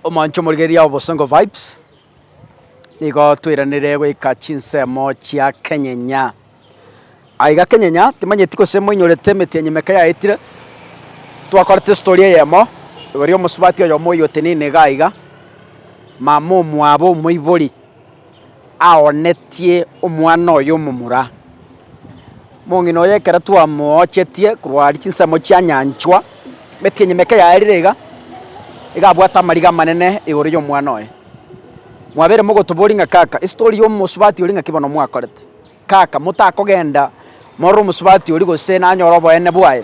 Omoanchwa omorigereria Obosongo Vibes, nigo twairanire goika chinsemo chia Kenyenya. Aiga Kenyenya, timanyeti gose moinyorete emeti ya nyimeka yaetire, twakorete story eyemo, igoro y'omosubati oyomo oyotenene iga aiga, mama omwabo omoibori. aoonetie omwana oye omomura. Mong'ina oye ekero twamoochetie korwa aria chinsemo chianyanchwa, emeti enyima eke yaerire iga, iga abwate amariga amanene igoro y'omwana oye. Mwabere mogotoboria ng'a, Kaka, ase tori omosubati oria ng'aki bono mwakorete? Kaka, motakogenda morore omosubati oria gose nanyore oboene bwaye.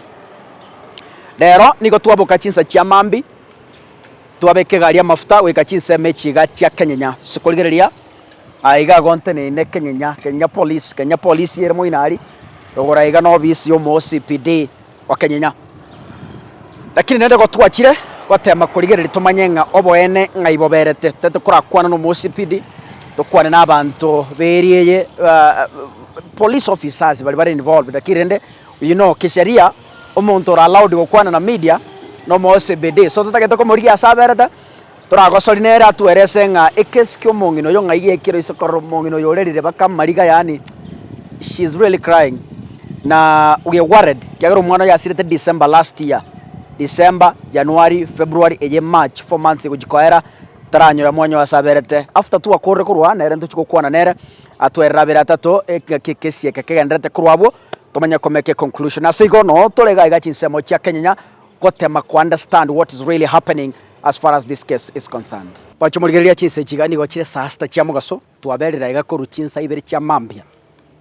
Rero nigo twaboka chinsa chia mambia, twabeka egari y'amafuta goika chinsemo echi iga chia Kenyenya. Ase korigereria aa iga igo nteneine Kenyenya, Kenyenya Police, Kenyenya Police ere moino aria rogoro aiga na obisi y'omo OCPD. Okenyenya. Lakini naende igo twachire goteema korigereria tomanye ng'a oboene ng'ai boberete. Tari tokorakwane nomosipidi, tokwane n'abanto b'eria eye, police officers baria bare involved, lakini rende oyio no kisheria, omonto ore allowed gokwana na media, nomosibidi. So totagete komorigia ase aberete, Toragosori nere atwerese ng'a ekesu ki'omong'ina oyo ng'ai gekire oise korora omong'ina oyo ore rirebeka amariga, yaani she is really crying na we are worried ekiagera omwana oyo asirete December last year, December, January, February eye March, four months gochia koera taranyore mwanyaye oo ase aberete. After twakorire korwa aa nere ntochia gokwana nere atwerere abere atato ng'aki ekesi eke kegendererete korwa abwo, tomanye komeka econclusion. Ase igo noo tore iga iga chinsemo chia kenyenya. gotema ko understand what is really happening as far as this case is concerned. Gocha morigereria chinsa echi iga nigo chire esasta chia mogaso twaberire aiga korwa chinsa ibere chia mambia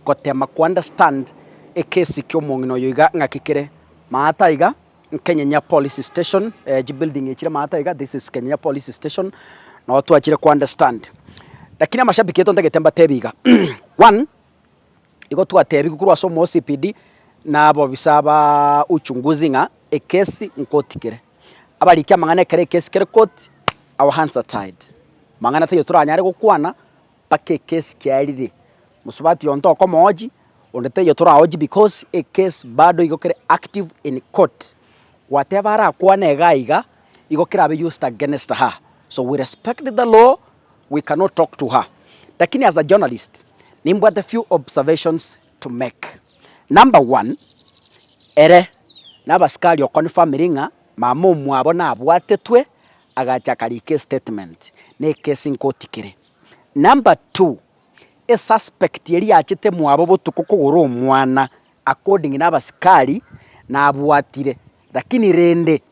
gotema ko understand ekesi kia omong'ina oyo iga ng'aki kere maata aiga Nkenyenya police station eh chi building echire maata aiga this is Kenyenya police station nao twachire ko understand lakini amashabiki eto ntagete mbatebi iga one Igo twateebigwe korwa ase omosibidi na abobisa ba uchunguzi ng'a ekesi nkoti kere. Abarikia amang'ana ekero ekesi kere koti, our hands are tied. Amang'ana taiyo toranyare gokwana mpaka ekesi kiarire. Mosubati oyo ntokomoochi, onde taiyo toraochi because ekesi bado igo kere active in court. Gwateeba arakwane iga iga, igo kerabe used against her. So we respect the law we cannot talk to her lakini as a journalist nimbwate few observations to make, number one ere nabasikari oconfirmiri ng'a mama omwabo nabwatetwe agacha akarika estatement na ekesi nkoti kere, number two esuspect eria yachete mwabo botuko kogora omwana according nabasikari nabwatire lakini rende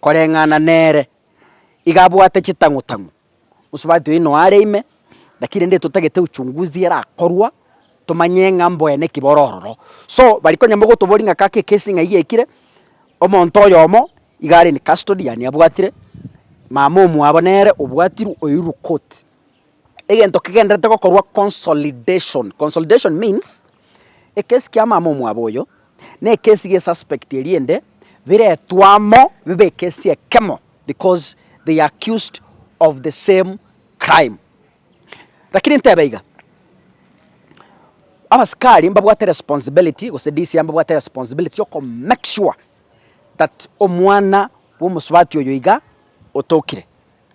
koreng'ana nere iga abwate chitang'utang'u, bonsi babwate oyio noyo are ime, lakini rende totagete uchunguzi erakorwa, tomanye ng'a mbwene ki boro ororo. So bari konya mogotoboria ng'a kaka ekesi ng'a eyio ekire, omonto oyomo iga are in custody yaani abwatire, mama omwabo nere obwatirwe oirwe koti. egento kegenderete gokorwa consolidation. Consolidation means ekesi kia mama omwabo oyo na ekesi ge suspect eriende biretwe amo bibe ekesi ekemo because they are accused of the same crime. Rakini ntebe iga, abasikari mbabwate responsibility gose DCI mbabwate responsibility yoko make sure that omwana bwa omosubati oyo iga otokire.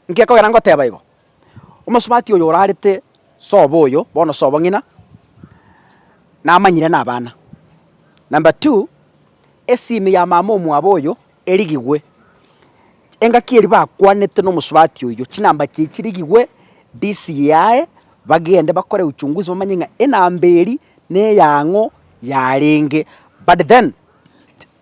Nkekogera ngoteba igo, omosubati oyo orarete sobo oyo, bono sobo ng'ina, namanyire nabana. Number two, esimi ya mama omwabo oyo erigigwe, engaki eria bakwanete na omosubati oyio, chinamba chiaye chirigigwe, DCI yaye, bagende bakore uchunguzi bamanye ng'a enamba eria neyang'o yarenge. But then,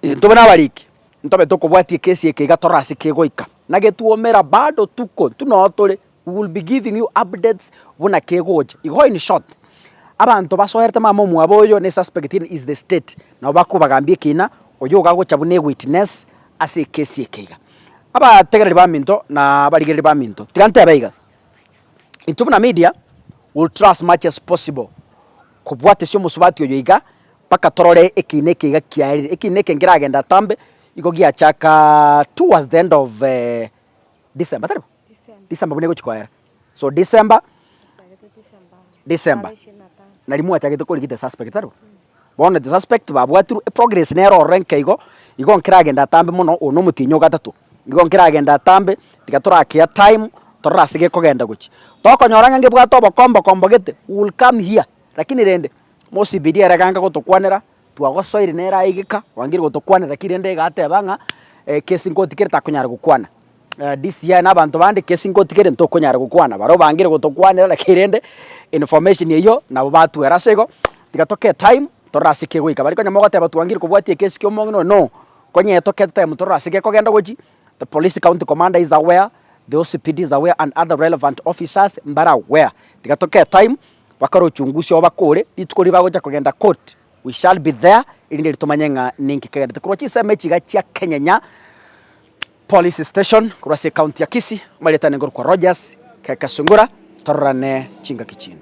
intwe buna abariki, Ntobe tokobwatia ekesi eke iga tore ase kegoika, na getwomera bado tuko tu noo tore, we will be giving you updates buna kegocha. Igo in short, abanto basoerete mama omwabo oyo ne suspect in is the state nabo bakobagambia ekina, oyo iga agocha buna ewitness ase ekesi eke iga. Abategereri baminto na abarigereri baminto, tiga ntebe iga, intwe buna media will try as much as possible, Kobwatesia omosubati oyo iga, mpaka torore ekiina eke iga kiaerire. Ekiina eke nkeragende atambe, igo giachaka towards the end of December, tari bo? December buna egochi koera. So December, December, nari mwachagete kori ki the suspect, tari bo? Bono the suspect babwatirwe, progress nero ororo enke igo, igo nkeragende atambe mono, oyo nomotienyi ogatato. Nigo nkeragende atambe, tiga torakea time, torore ase gekogenda gochia. Tokonyora ng'a ngebwate obokombo kombo gete, we will come here, lakini rende, mosibirie ere aganka gotokwanera, twagosoire nere aye geka, orangire gotokwanera, lakini rende iga ateba ng'a ekesi nkotigere takonyara gokwana. DCI na abanto bande ekesi nkotigere ntokonyara gokwana, baria obangire gotokwanera lakini rende information eyio nabo batwera. Ase igo, tiga tokee time, torore ase kegoika. Bari konya mogoteba twangire kobwatia ekesi ki'omong'ina oyo, no. Konya eto ke time torore ase gekogenda gochi, the police county commander is aware, the OCPD is aware and other relevant officers mbare aware. Tiga toke time bakore uchunguzi oo bakore, rituko riria bagocha kogenda court we shall be there erinde ritomanye ng'a ninki kegendete korwa chinsemo echi iga chia Kenyenya police station korwa ase ecounty ya Kisii, amaritwa nigo korokwa Rogers Keke Sungura, tororane chingaki chinde.